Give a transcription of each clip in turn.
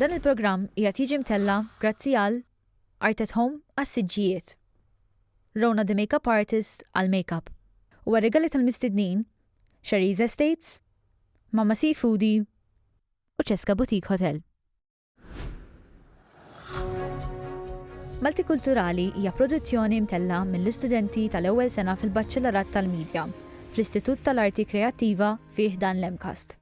Dan il-programm qiegħed jiġi mtella' grazzi għal Art at Home għas-siġġijiet, Rona the Makeup Artist għall-makeup u għar-rigali tal-mistednin, Sherry's Estates, Mama Seafoodie u Cesca Boutique Hotel. Maltikulturali hija produzzjoni mtella' mill-istudenti tal-ewwel sena fil-Baċċelarat tal-Media fl-Istitut tal-Arti Kreattiva fi ħdan l-MCAST.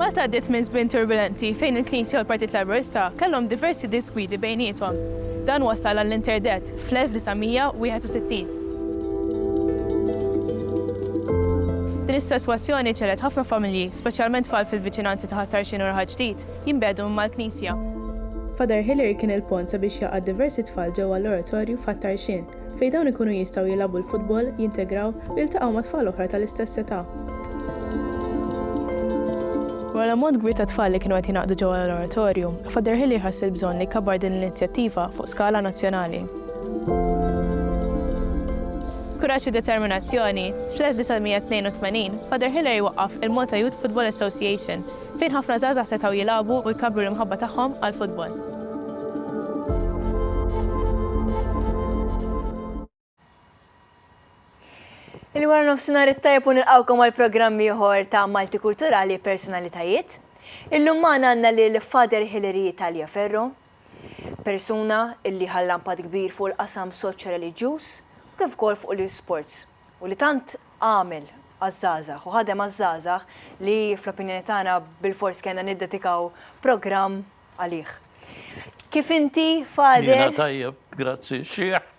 Malta għaddiet minn żmien turbilenti fejn il-Knisja u l-Partit Laburista kellhom diversi disgwidi bejniethom. Dan wassal għall-interdett fl-1961. Din is-sitwazzjoni ġġegħlet ħafna familji, speċjalment tfal fil-viċinanzi ta' Ħat-Tarxien u Raħal Ġdid, jinbegħdu minn mal-Knisja. Father Hilary kien il-pont sabiex jgħaqqad diversi tfal ġewwa l-Oratorju f'Ħat-Tarxien. fejn dawn ikunu jistgħu jilagħbu l-futbol, jintegraw u jiltaqgħu ma' tfal oħra tal-istess età. Wara l-ammont kbir ta' tfal li kienu qed jingħaqdu ġewwa l-Oratorju, Father Hillier ħass il-bżonn li jkabbar din l-inizjattiva fuq skala nazzjonali. B'kuraġġ u determinazzjoni, fl-1982 Father Hillier jwaqqaf il-Malta Youth Football Association fejn ħafna żgħażagħ setgħu jilagħbu u jkabbru l-imħabba tagħhom għall-futbol. Il-wara nofsinhar it-tajjeb u nilqgħukom għal programm ieħor ta' Malti Kulturali Personalitajiet. Illum magħna għandna lil Father Hilary Italia Ferro, persuna illi ħallampat kbir fuq il-qasam soċjo-reliġjuż kif ukoll fuq l-isports. u li tant għamel għaż-żgħażagħ u ħadem għaż-żgħażagħ li fl-opinjoni tagħna bilfors kellna niddedikaw programm għalih. Kif inti, Father? Jiena tajjeb, grazzi, xieħ,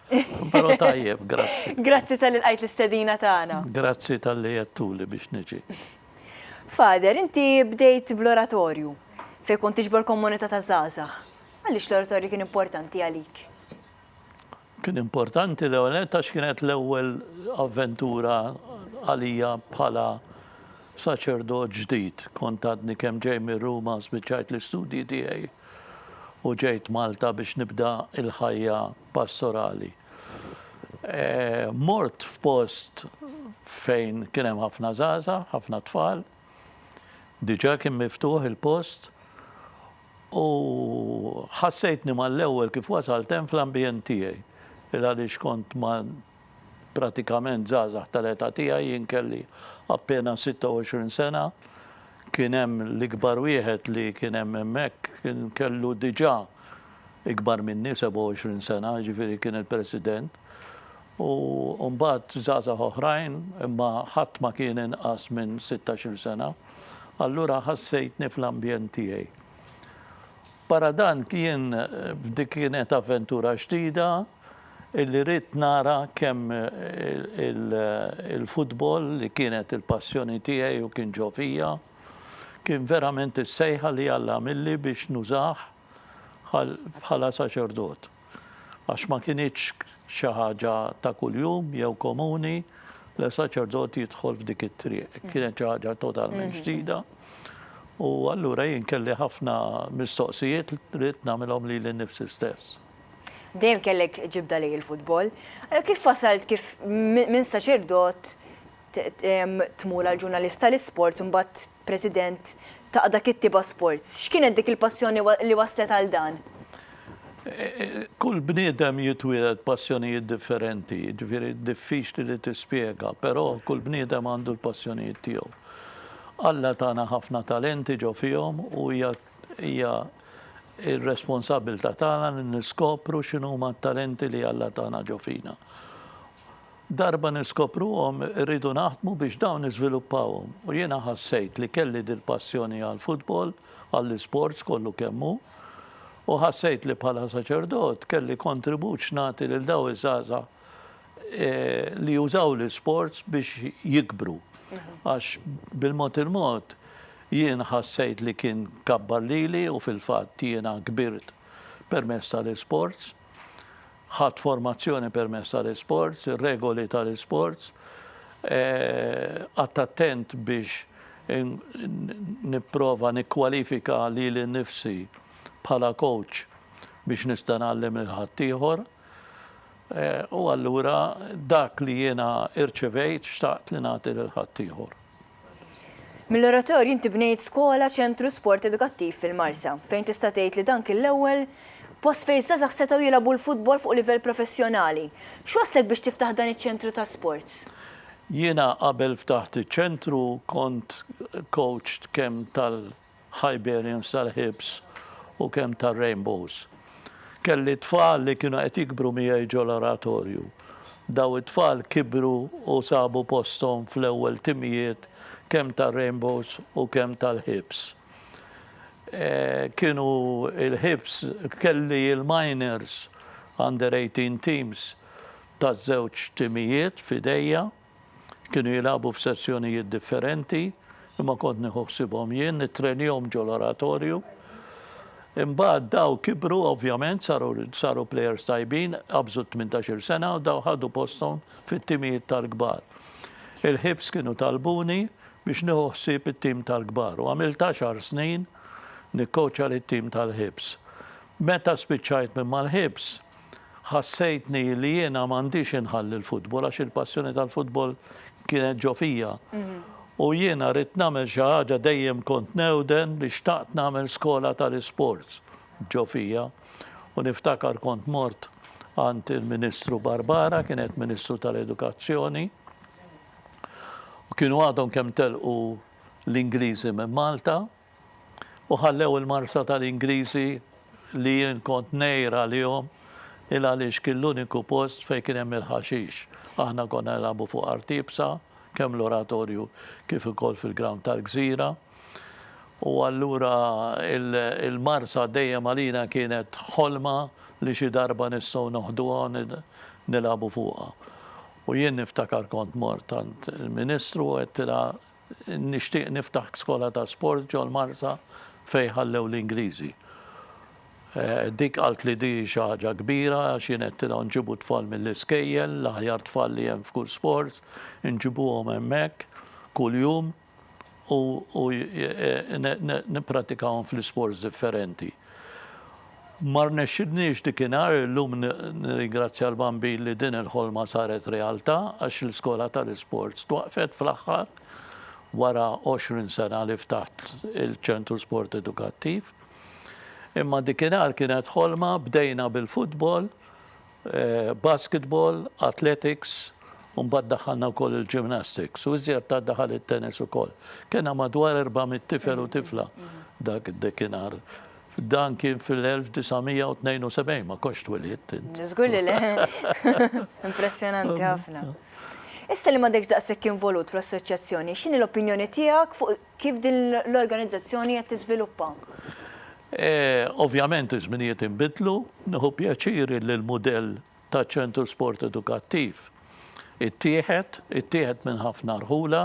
però tajjeb, grazzi. Grazzi tal-li lqajt l-istedina tagħna. Grazzi tal-li jettuli biex niġi. Father, inti bdejt bl-oratorju fejn kont tiġbor komunità ta' żgħażagħ. Għaliex l-oratorju kien importanti għalik? Kien importanti l-ewwel nett għax kienet l-ewwel avventura għalija bħala saċerdot ġdid. Kont għadni kemm ġej mir-Ruma, spiċċajt l-istudji tiegħi u ġejt Malta biex nibda l-ħajja pastorali. E, mort f'post fejn kien hemm ħafna żgħażagħ, ħafna tfal, diġà kien miftuħ il-post U ħassejtni mal-ewwel kif wasalt hemm fl-ambjent tiegħi. Il-għaliex kont ma' pratikament żgħażagħ tal-età tiegħi, jien kelli appena 26 sena, kien hemm l-ikbar wieħed li kien hemm hemmhekk kien kellu diġà ikbar minni, 27 sena, jiġifieri kien il-President. u mbagħad żgħażagħ oħrajn, imma ħadd ma kien inqas minn sittax-il sena, allura ħassejtni fl-ambjent tiegħi. Barra dan jien dik kienet avventura ġdida illi ridt nara kemm il-futbol li kienet il-passjoni tiegħi u kien ġo fija, kien verament is-sejħa li Alla għamilli biex nużah bħala saċerdot. għax ma kinitx xi ħaġa ta' kuljum jew komuni li saċerdot jidħol f'dik it-triq. Kienet xi ħaġa totalment mhm. ġdida. U allura jien kelli ħafna mistoqsijiet li nagħmilhom li l-nifsi stess. Dejjem kellek ġibda lej il-futbol. Eh, kif wasalt kif minn saċerdot tmur għal ġurnalista l-isport imbagħad President, ta' dak it-tip għas sports. X'kienet dik il-passjoni li wasslet għal dan? Kull bniedem jitwieled b'passjonijiet differenti, jiġifieri diffiċli li tispjega, però kull bniedem għandu l-passjonijiet tiegħu. Alla tana ħafna talenti ġo fihom u hija hija r-responsabbiltà tagħna li niskopru x'inhuma t-talenti li Alla tana ġo fina. Darba niskopruhom irridu naħdmu biex dawn niżviluppawhom u jiena ħassejt li kelli dil-passjoni għall-futbol, għall-isports kollu kemm hu u ħassejt li bħala saċerdot kelli kontribut x'nagħti lil daw iż-żgħażagħ eh, li jużaw l-isports biex jikbru. Mhm. Għax bil-mod il-mod jien ħassejt li kien kabbar lili u fil-fatt jiena kbirt permezz tal-isports. Ħadt formazzjoni permezz tal-isports, ir-regoli tal-isports, qgħadt attent biex nipprova nikkwalifika lili nnifsi bħala coach biex nista' ngħallem lil ħaddieħor. U allura dak li jiena irċevejt xtaqt li nagħti lil ħaddieħor. Mill-oratorju inti bnejt skola, ċentru, sport edukattiv fil-Marsa, fejn tista' tgħid li dan kien l-ewwel post fejn żgħażagħ setgħu jilgħabu l-futbol fuq livell professjonali. X'wasslek biex tiftaħ dan iċ-ċentru ta' sports? Jiena qabel ftaħt iċ-ċentru kont kowċ kemm Hyberians tal-ħibs u kemm tar-rainbows. Kelli tfal li kienu qed jikbru miegħi ġol-Oratorju. Daw it-tfal kibru u sabu posthom fl-ewwel timijiet kemm tar-rainbows u kemm tal-ħibs. Kienu l-ħibs kelli l-minors, under 18 teams taż-żewġ timijiet f'idejja. Kienu jilagħbu f'sezzjonijiet differenti, imma kont nieħu ħsibhom jien, nittrenjhom ġol-oratorju. Imbagħad daw kibru ovvjament saru saru plejers tajbin, qabżu 18-il sena u daw ħadu posthom fit-timijiet tal-kbar. Il-Hibs kienu talbuni biex nieħu ħsieb it-tim tal-kbar u għamilt għaxar snin nikkowċja lit-tim tal-Hibs. Meta spiċċajt minn mal-Hibs, Ħassejtni li jiena m'għandix inħalli l-futbol għax il-passjoni tal-futbol kienet ġo fija. U jiena ridt nagħmel xi ħaġa dejjem kont newden li xtaqt nagħmel skola tal-isports ġo fija. U niftakar kont mort għand il-Ministru Barbara, kienet Ministru tal-Edukazzjoni, u kienu għadhom kemm telqu l-Ingliżi minn Malta, u ħallew il-Marsa tal-Ingliżi li jien kont ngħir għalihom il għaliex kien l-uniku post fejn kien hemm il-ħaxix. Aħna konna nilagħbu fuq art iebsa, kemm l-Oratorju kif ukoll fil-ground tal-Gżira. U allura il-Marsa dejjem għalina kienet ħolma li xi darba nistgħu noħduha u nilagħbu fuqha. U jien niftakar kont mort għand il-Ministru u għedtilha Nixtieq niftaħ skola ta' sport ġol-Marsa fejn ħallew l-Ingliżi. Dik qaltli di hi xi ħaġa kbira għax jien għedtilha nġibu t-tfal mill-iskejjel, l-aħjar tfal li hemm f'kull sport, inġibuhom hemmhekk kuljum u nippratikahom fl-isports differenti. Ma rnexxilniex dikinhar, illum nirringrazzja l-Bambin li din il-ħolma saret realtà għax l-iskola tal-isports twaqqfet fl-aħħar wara 20 sena li ftaħt il-Ċentru Sport Edukattiv. Imma dikinhar kienet ħolma, bdejna bil-futbol, basketball, athletics u mbagħad daħħalna wkoll il-gymnastics u iżjed tard daħal it-tennis ukoll. Kena madwar 400 tifel u tifla dak id-dekinhar. Dan kien fil-1972 ma konx twilidt. Żgur li le. Impressjonanti ħafna. Issa li m'għadekx daqshekk involut fl-assoċjazzjoni, x'inhi l-opinjoni tiegħek fuq Kif din l-organizzazzjoni qed tiżviluppa? Ovvjament iż-żminijiet inbidlu. Nieħu pjaċir illi l-mudell taċ-Ċentru Sport Edukattiv ittieħed, ittieħed minn ħafna rħula.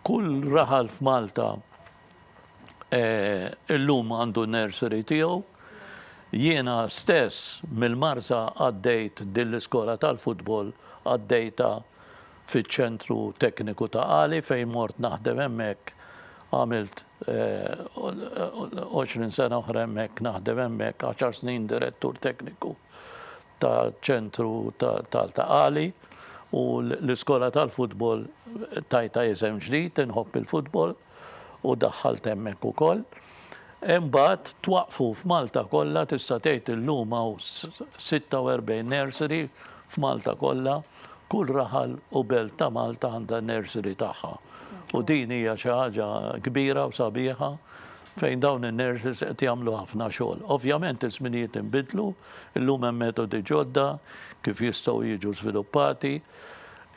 Kull raħal f'Malta illum għandu n-nursery tiegħu. Jiena stess mill-Marsa għaddejt din l-iskola tal-futbol għaddejtha fiċ-Ċentru Tekniku ta' Qali fejn mort naħdem hemmhekk għamilt 20 sena oħra hemmhekk naħdem hemmhekk, għaxar snin Direttur Tekniku taċ-Ċentru tal ta' Qali u l-iskola tal-futbol tajtha isem ġdid, inħobb il-futbol. u daħħalt hemmhekk ukoll. Imbagħad twaqqfu f'Malta kollha tista' tgħid illum hawn 46 nursery f'Malta kollha, kull raħal u belt ta' Malta għandha n-nursery tagħha. U din hija xi ħaġa kbira u sabiħa fejn dawn in-nurses qed jagħmlu ħafna xogħol. Ovvjament iż-żminijiet inbidlu, illum hemm metodi ġodda kif jistgħu jiġu żviluppati.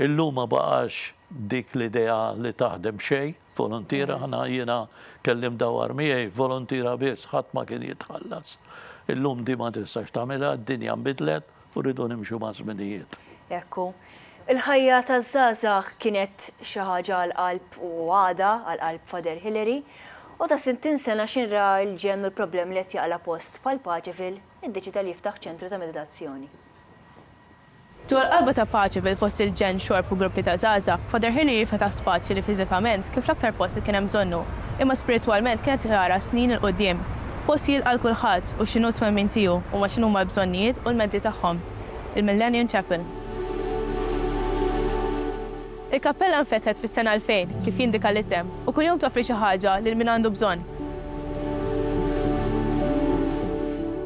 Illum ma baqax dik l-idea li taħdem b'xejn, voluntiera, aħna jiena kellimt dawwar miegħi, voluntiera biss, ħadd ma kien jitħallas. Illum din ma tistax tagħmilha, d-dinja nbidlet u rridu nimxu maż-żminijiet. Hekk hu. Il-ħajja taż-żgħażagħ kienet xi ħaġa għall-qalb u għadha għall-qalb Father Hilary, u ta' sittin sena x'ħin ra l-ġenn u l-problemi li qed jaqla' post bħal Paċeville, iddeċieda li jiftaħ ċentru ta' meditazzjoni. Dwar qalba ta' paċi bil-fost il-ġenn, xorb u gruppi ta' żgħażagħ, Father Hilary fetaħ spazju li fiżikament kien fl-aktar post li kien hemm bżonnu, imma spiritwalment kienet tara snin 'il quddiem. Post jilqa' 'l kulħadd u x'inhu t-twemmin tiegħu huma x'inhuma l-bżonnijiet u l-mezzi tagħhom. Il-Millennium Chapel. Il-kappella nfetħet fis-sena 2000, kif jindika l-isem, u kuljum toffri xi ħaġa lil min għandu bżonn.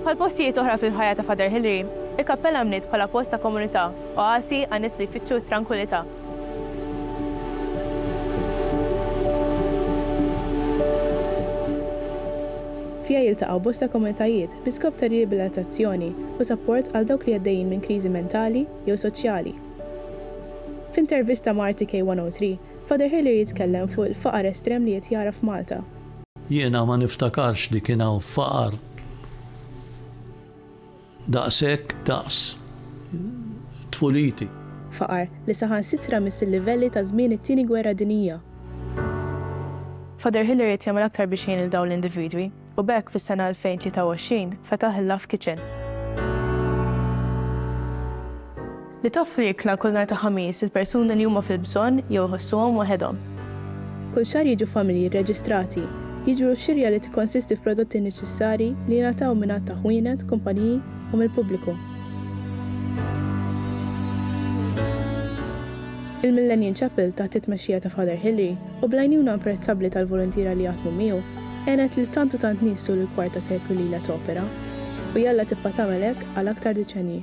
Bħal postijiet oħra fil-ħajja ta' Father Hilary, il-kappella nbniet bħala post ta' komunità, oasi għan-nies li jfittxu t-trankwilità. Fiha jiltaqgħu bosta komunitajiet bl-iskop ta' riabilitazzjoni u sapport għal dawk li għaddejjin minn kriżi mentali jew soċjali. F'intervista ma' RTK 103, Father Hillier jitkellem fuq il-faqar estrem li qed jara f'Malta. Jiena ma niftakarx li kien hawn faqar daqshekk daqs tfuliti. Faqar li saħansitra miss il-livelli ta' żmien it-Tieni Gwerra Dinjija. Father Hillier qed jagħmel aktar biex jgħin lil dawn l-individwi. u b'hekk fis-sena 2023 fetaħ il-Love Kitchen, li toffri ikla kull nhar ta' Ħamis lil persuni li huma fil-bżonn jew iħossuhom waħedhom. Kull xahar jiġu familji rreġistrati, jiġbru x-xirja li tikkonsisti f'prodotti neċessarji li jingħataw minn għadd ta' ħwienet, kumpaniji u mill-pubbliku. Il-Millennium Chapel taħt it-tmexxija ta' Father Hilary, u bl-għajnuna apprezzabbli tal-voluntiera li jaħdmu miegħu, għenet lil tant u tant nies tul il-kwarta seklu li ilha topera. U jalla tibqa' tagħmel hekk għal aktar deċennji.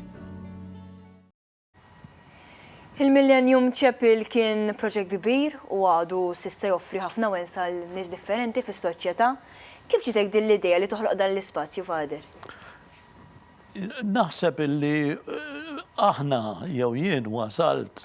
Il-Millennium Chapel kien proġett kbir u għadu s'issa joffri ħafna wens għal nies differenti fis-soċjetà. Kif ġietek din l-idea li toħloq dan l-ispazju, Father? Naħseb illi aħna, jew jien wasalt,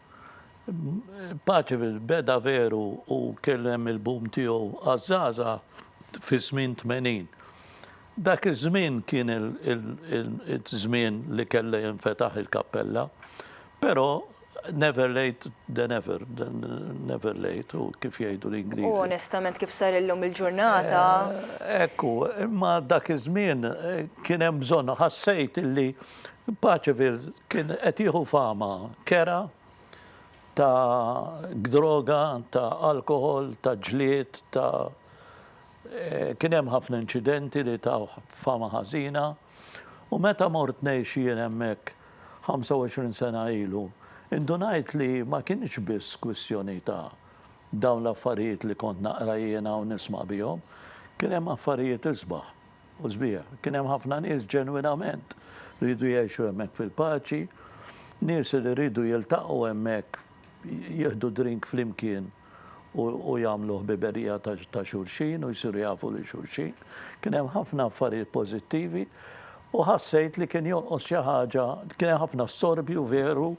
Paceville beda veru u kien hemm il-boom tiegħu għaż-żgħażagħ fiż-żmien tmenin. Dak iż-żmien kien iż-żmien li kellha jinfetaħ il-kappella, però never late than ever, never late u kif jgħidu l-Ingliżi. U onestament kif sar illum il-ġurnata. Ekku, imma dak iż-żmien kien hemm bżonn, ħassejt illi Paceville kien qed jieħu fama kerha ta' droga, ta' alkoħol, ta' ġlied, ta' eh, kien hemm ħafna inċidenti li ta' fama ħażina. U meta mort ngħix jien hemmhekk 25 sena ilu, indunajt li ma kienx biss kwistjoni ta' dawn l-affarijiet li kont naqra jiena u nisma' bihom, kien hemm affarijiet isbaħ. U sbieha, kien hemm ħafna nies ġenwinament riedu jgħixu hemmhekk fil-paċi, nies li riedu jiltaqgħu hemmhekk, jieħdu drink flimkien u jagħmlu ħbiberija ta' xulxin u jsiru jafu lil xulxin. Kien hemm ħafna affarijiet pożittivi u ħassejt li kien jonqos xi ħaġa, kien hemm ħafna storbju veru,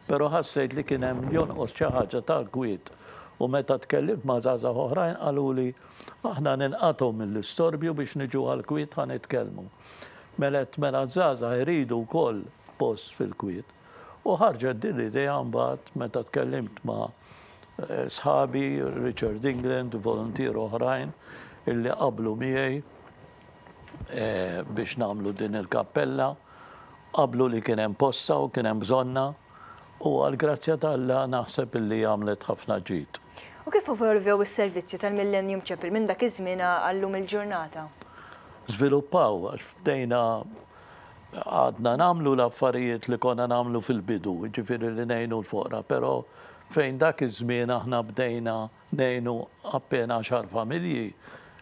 però ħassejt li kien hemm jonqos xi ħaġa tal-kwiet. U meta tkellimt ma' żgħażagħ oħrajn qaluli Aħna ninqatgħu mill-istorbju biex niġu għall-kwiet ħa nitkellmu. Mela t-tmena żgħażagħ iridu wkoll post fil-kwiet. U ħarġet din l-idea mbagħad meta tkellimt ma' sħabi, Richard England, voluntier oħrajn illi qablu miegħi biex nagħmlu din il-kappella. Qablu li kien hemm postha u kien hemm bżonnha. u għall-grazzja ta' Alla naħseb illi għamlet ħafna ġid. U kif evolvew is-servizzi tal-Millennium Chapel minn dak iż-żmien għal-lum il-ġurnata? Żviluppaw għax bdejna għadna nagħmlu l-affarijiet li konna nagħmlu fil-bidu, jiġifieri li ngħinu l-foqra, però fejn dak iż-żmien aħna bdejna Ngħinu appena għaxar familji,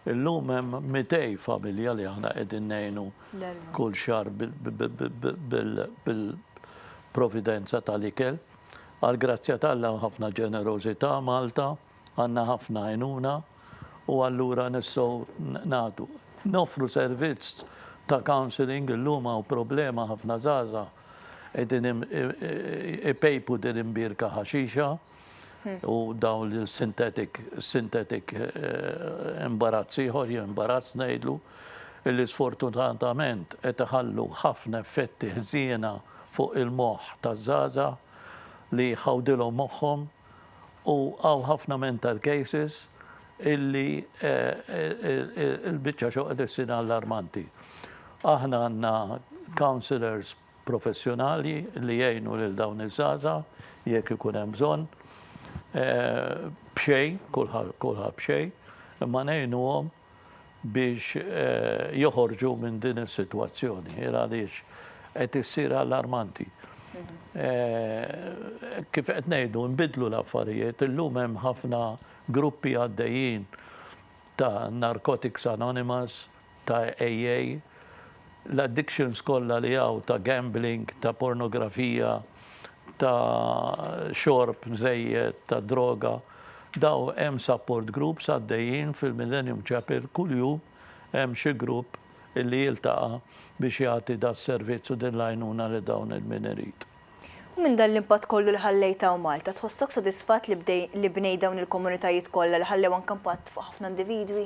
illum hemm mitej familja li aħna qegħdin ngħinu kull xahar bil-providenza tal-ikel. Għall-grazzja t'Alla hemm ħafna ġenerożità Malta, għandna ħafna għajnuna u allura nistgħu nagħtu. Noffru servizz ta' counselling, illum hawn problema ħafna żgħażagħ qegħdin ipejpu din imbierka ħaxixa. u dawn il-sintetik, sintetik eh, imbarazz ieħor, jew imbarazz ngħidlu, illi sfortunatament qed iħallu ħafna effetti ħżiena fuq il-moħħ taż-żaża li ħawdilhom moħħhom u għaw ħafna mental cases illi eh, eh, il-bicċa xoqet s-sina allarmanti. Aħna għanna counselors professjonali li jgħinu lil dawn iż-żgħażagħ jekk ikun hemm bżonn b'xejn, kulħadd b'xejn, imma ngħinuhom biex joħorġu minn din is-sitwazzjoni għaliex qed issir allarmanti. Kif qed ngħidu nbiddlu l-affarijiet, illum hemm ħafna gruppi għaddejjin ta' Narcotics Anonymous, ta' AA, l-addictions kollha li hawn ta' gambling, ta' pornografija, ta' xorb żejjed, ta' droga, dawn hemm support groups għaddejjin fil-Millennium Chapel kuljum hemm xi grupp illi jiltaqa' biex jagħti das-servizz u din l-għajnuna lil dawn il-min irid. U minn dan l-impatt kollu li ħallejt hawn Malta, tħossok sodisfatt li bnejt dawn il-komunitajiet kollha li ħallew anke impatt fuq ħafna individwi?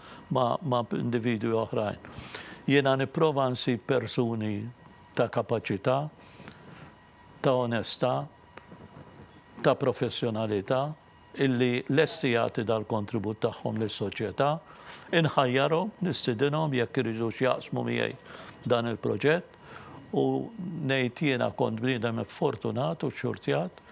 ma' individwi oħrajn. Jiena nipprova nsib persuni ta' kapaċità, ta' onestà, ta' professjonalità illi lesti jagħti dal-kontribut tagħhom lis-soċjetà. Inħajjarhom, nistidinhom jekk iridux jaqsmu miegħi dan il-proġett u ngħid jiena kont bniedem iffortunat u xxurtjat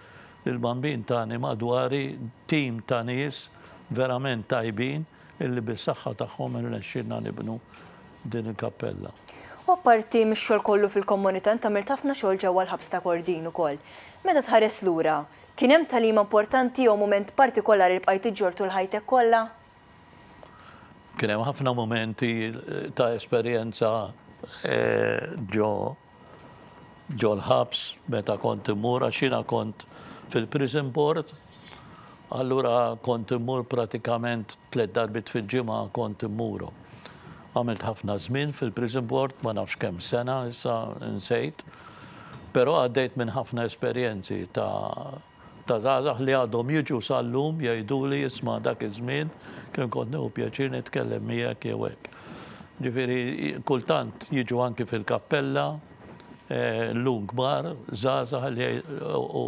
li l-Bambin tani madwari tim ta' nies verament tajbin illi bis-saħħa tagħhom irnexxielna nibnu din il-kappella. U apparti mix-xogħol kollu fil-komunità int għamilt ħafna xogħol ġewwa l-ħabs ta' Kordin ukoll. Meta tħares lura, kien hemm tagħlima importanti jew mument partikolari li bqajt iġġorr tul ħajtek kollha? Kien hemm ħafna mumenti ta' esperjenza ġo ġol-ħabs meta kont immur għax jiena kont fil-prison board. Allura kont immur pratikament tliet darbit fil-ġimgħa kont immuru. Għamilt ħafna żmien fil-prison board, ma nafx kemm sena issa nsejt. Però għaddejt minn ħafna esperjenzi ta' Ta' żgħażagħ li għadhom jiġu sal-lum jgħiduli isma' dak iż-żmien kemm kont nieħu pjaċir nitkellem miegħek jew hekk. Ġifieri kultant jiġu anki fil-kappella llum kbar żgħażagħ li u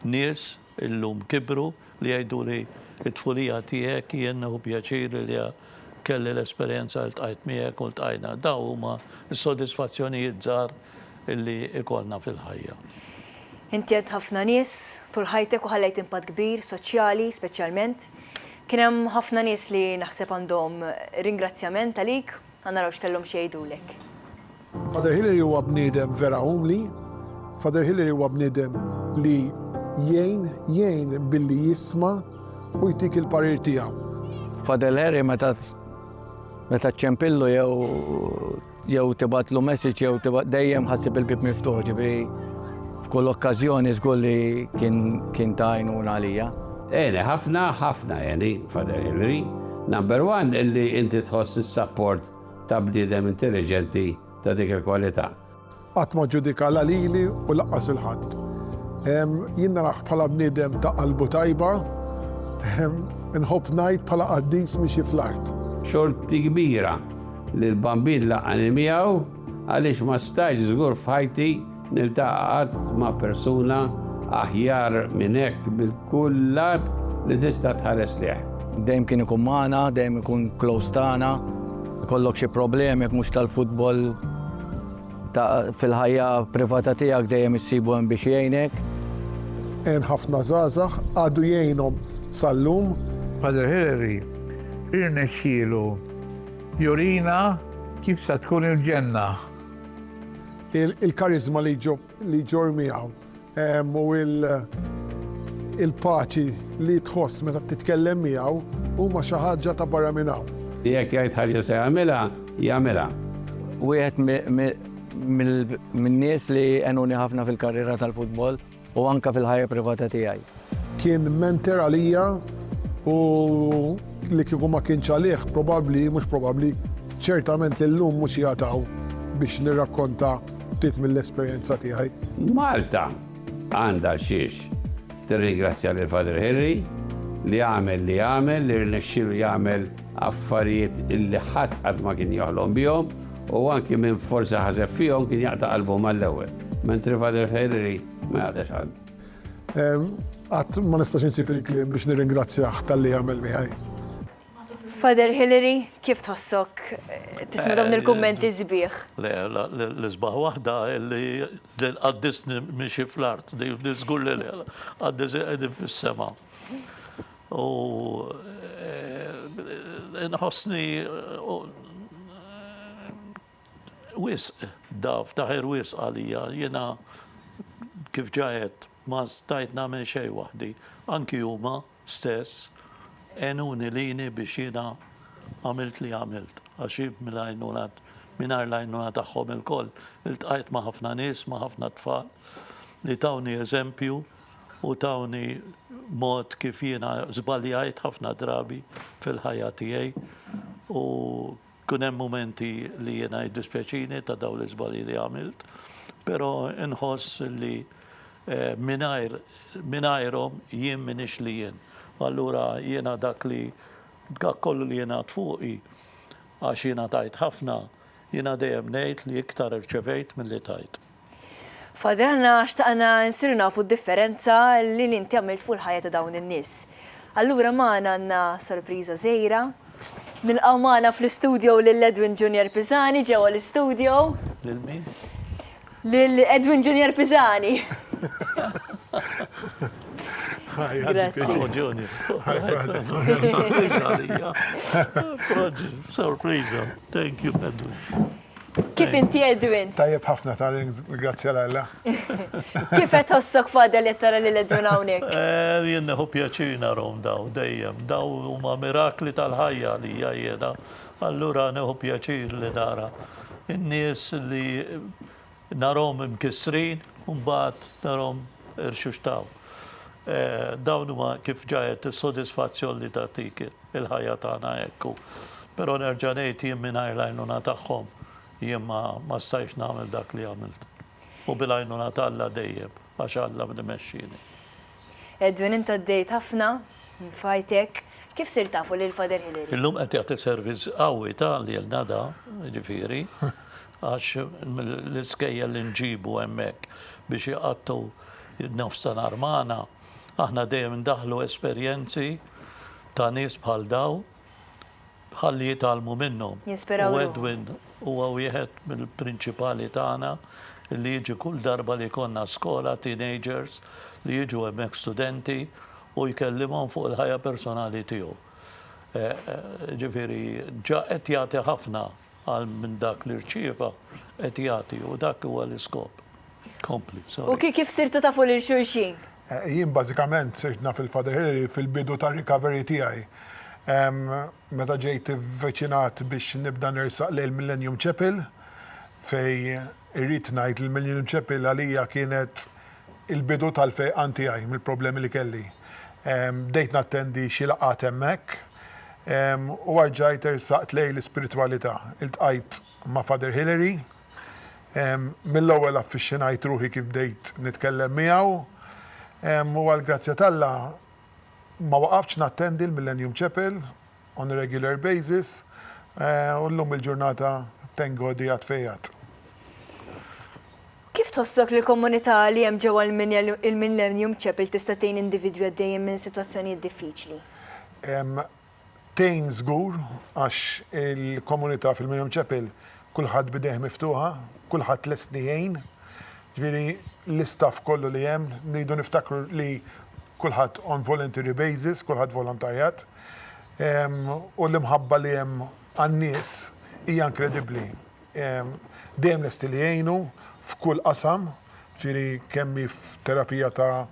nies illum kibru li jgħiduli t-tfulija tiegħek jien nieħu pjaċir li kelli l-esperjenza li ltqajt miegħek u ltqajna. Dawn huma s-sodisfazzjonijiet żgħar li jkollna fil-ħajja. Inti għedt ħafna nies tul ħajtek u ħallejt impatt kbir soċjali speċjalment. Kien hemm ħafna nies li naħseb għandhom ringrazzjament għalik, ħa naraw x'kellhom xi jgħidulek. Father Hilary huwa bniedem vera umli, Father Hilary huwa bniedem li jgħin, jgħin billi jisma' u jtik il-parir tiegħu. Father Hilary meta meta ċċempillu jew Jew tibgħatlu message jew tibgħat dejjem ħassib il-bib miftuħ, ġifieri f'kull okkażjoni żgur li kien kien ta' għajnuna għalija. Eni, ħafna, ħafna, eni, Father Hillary. Number one, illi inti tħoss is-sapport ta' bniedem intelligenti ta' dik il-kwalità. Qatt ma ġġudika la lili u lanqas lil ħadd. Jien narah bħala bniedem ta' qalbu tajba, inħobb ngħid bħala qaddis miexi fl-art. Xorti kbira li l-Bambin laqqani miegħu għaliex ma stajtx żgur f'ħajti niltaqa' qatt ma' persuna aħjar minn hekk minn kull lat li tista' tħares lejh. Dejjem kien ikun magħna, dejjem ikun close tagħna. Ikollok xi problemi jekk mhux tal-futbol. Ta' fil-ħajja privata tiegħek dejjem issibu hemm biex jgħinek. Hemm ħafna żgħażagħ għadu jgħinhom sal-lum. Padre Hilary irnexxielu jurina kif sa tkun il-ġenna. Il-kariżma li ġor miegħu. u l-paċi li tħoss meta titkellem miegħu huma xi ħaġa ta' barra minn hawn. Jekk jgħid ħaġa se jagħmilha, jagħmilha. Wieħed min-nies li għenuni ħafna fil-karriera tal-futbol u anke fil-ħajja privata tiegħi. Kien mentor għalija u li kieku ma kienx għalih, probabbli, mhux probabbli, ċertament li llum mhux qiegħed hawn biex nirrakkonta ftit mill-esperjenza tiegħi. Malta għandha xiex tirringrazzja lil Father Henry li għamel li għamel li rnexxielu jagħmel affarijiet illi ħadd qatt ma kien joħlom bihom u anki minn forsi ħaseb fihom kien jaqta' qalbu mal-ewwel. Mentri Father Henry ma jaqtax qalbu. Qatt ma nistax insib il-kliem biex nirringrazzjah tal-li għamel miħaj. Father Hillary, kif tħossok tisma dawn il-kummenti zbieħ? Le, l-isbaħ wahda li għaddisni miexi fl-art, li zgur li le, għaddis għedin fil-sema. U nħossni wisq, daf, daher wisq għalija. Jiena kif ġa għedt ma stajt nagħmel xejn waħdi. Anki huma stess għenuni lili biex jiena għamilt li għamilt għax jien mill-għajnuna mingħajr l-għajnuna tagħhom ilkoll iltqajt ma' ħafna nies, ma' ħafna tfal li tawni eżempju u tawni mod kif jiena żbaljajt ħafna drabi fil-ħajja tiegħi u Ikun hemm mumenti li jiena jiddispjaċini ta' dawn l-iżbalji li għamilt, però nħoss li mingħajr mingħajrhom jien m'iniex li jien. Allura jiena dak li dak kollu li jingħad fuqi għax jiena tajt ħafna, jiena dejjem ngħid li iktar irċevejt milli tajt. Father aħna xtaqna nsiru nafu d-differenza li li inti għamilt fuq il-ħajja ta' dawn in-nies. Allura magħna għandna sorpriża żgħira. Nilqgħu magħna fl-istudio lil Edwin Junior Pisani ġewwa l-istudio. Lil min? Lil Edwin Junior Pisani. Sorpriża. Thank you Edwin. Kif inti Edwin? Tajjeb ħafna ta' ringrazzja l-Alla. Kif qed ħossok fadel qed tara lil Edwin hawnhekk? Eh, jien neħu pjaċir narhom daw dejjem, daw huma mirakli tal-ħajja li hija jiena. Allura neħu pjaċir li nara n-nies li Narhom imkissrin u mbagħad narhom irxuxtaw. Dawn huma kif ġa għedt is-sodisfazzjon li tagħtik il-ħajja tagħna hekk u però nerġa' ngħid jien mingħajr l-għajnuna tagħhom jien ma ma stajtx nagħmel dak li għamilt. U bil-għajnuna t'Alla dejjem għax Alla li mexxieni. Edwin int għaddejt ħafna f'ħajtek. Kif sirt tafu lil Father Hilary? Illum qed jagħti servizz qawwi ta' lil nada, jiġifieri, għax l-iskejjel li nġibu hemmhekk biex iqattgħu n-nofs ta' nhar magħna, aħna dejjem indaħħlu esperjenzi ta' nies bħal dawn. ħalli jitgħallmu minnhom. Jinspiraw ruħhom. U Edwin huwa wieħed mill-prinċipali tagħna li jiġi kull darba li jkollna skola, teenagers, li jiġu hemmhekk studenti u jkellimhom fuq il-ħajja personali tiegħu. Ġifieri ġa qed jagħti ħafna Għal minn dak li rċieva qed jagħti u dak huwa l-iskop. Kompli, sorry. U kif sirtu tafu lil xulxin? Jien bażikament sirt naf il-Father Hilary fil-bidu tar-recovery tiegħi. Meta ġejt ivviċinat biex nibda nersaq lejn il-Millennium Chapel, fejn irrid ngħid li l-Millennium Chapel għalija kienet il-bidu tal-fejqan tiegħi mill-problemi li kelli. Bdejt nattendi xi laqgħat hemmhekk u erġajt ersaqt lejn l-ispiritwalità. Iltqajt ma' Father Hilary. Mill-ewwel affixxinajt ruħi kif bdejt nitkellem miegħu u għall-grazzja t'Alla ma waqaftx nattendi l-Millennium Chapel on a regular basis u llum il-ġurnata thank God qiegħed fejqat. Kif tħossok li l-komunità li hemm ġewwa l-Millennium Chapel tista' tgħin individwi għaddejjin minn sitwazzjonijiet diffiċli? Tgħin żgur għax il-komunità fil-Millennium Chapel kulħadd b'idejh miftuħa, kulħadd lest li jgħin. Ġifieri l-istaff kollu li hemm, rridu niftakru li kulħadd on voluntary basis, kulħadd volontarjat. U l-imħabba li hemm għan-nies hija inkredibbli. Dejjem lesti li jgħinu f'kull qasam, ġifieri kemm hi f'terapija ta'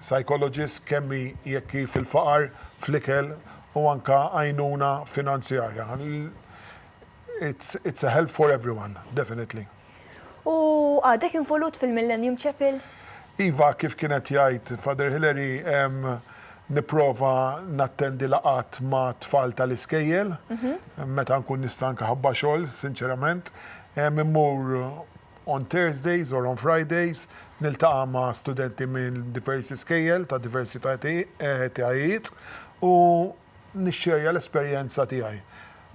psychologist, kemm hi jekk hi fil-faqar, fl-ikel u anke għajnuna finanzjarja. It's a help for everyone, definitely. U għadek involut fil-Millennium Chapel? Iva, kif kien qed jgħid Father Hilary, nipprova nattendi laqgħat ma' tfal tal-iskejjel, meta nkun nista' anke ħabba xogħol, sinċerament. Immur on Thursdays or on Fridays, niltaqa' ma' studenti minn diversi skejjel ta' diversi etajiet u, nixxerja l-esperjenza tiegħi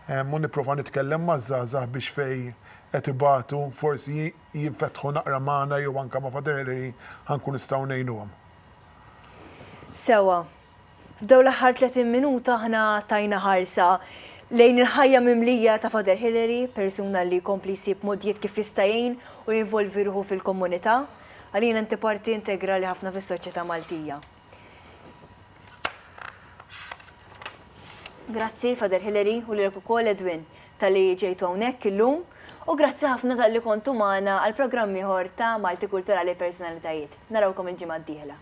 u nipprova nitkellem maż-żgħażagħ biex fejn qed ibatu forsi jinfetħu naqra magħna jew anke ma' Father Ellery ħa nkun nistgħu ngħinuhom. Sewwa. F'dawn l-aħħar 30 minuta aħna tajna ħarsa lejn il-ħajja mimlija ta' Father Hilary, persuna li jkompli jsib mogħdijiet kif jista' jgħin u jinvolvi ruħu fil-komunità. Għalina inti parti integrali ħafna fis-soċjetà Maltija. Grazzi, Father Hilary, u lilek ukoll, Edwin, talli ġejtu hawnhekk illum, u grazzi ħafna talli kontu magħna għal programm ieħor ta' Malti Kulturali Personalitajiet. Narawkom il-ġimgħa d-dieħla.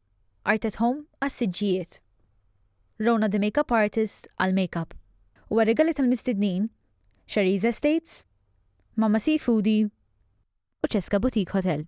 Art at Home għas-siġġijiet. Rona the Makeup Artist għall-makeup. U għar-rigali tal-mistednin, Sharie's Estates, Mamma Seafoodie u Cesca Boutique Hotel.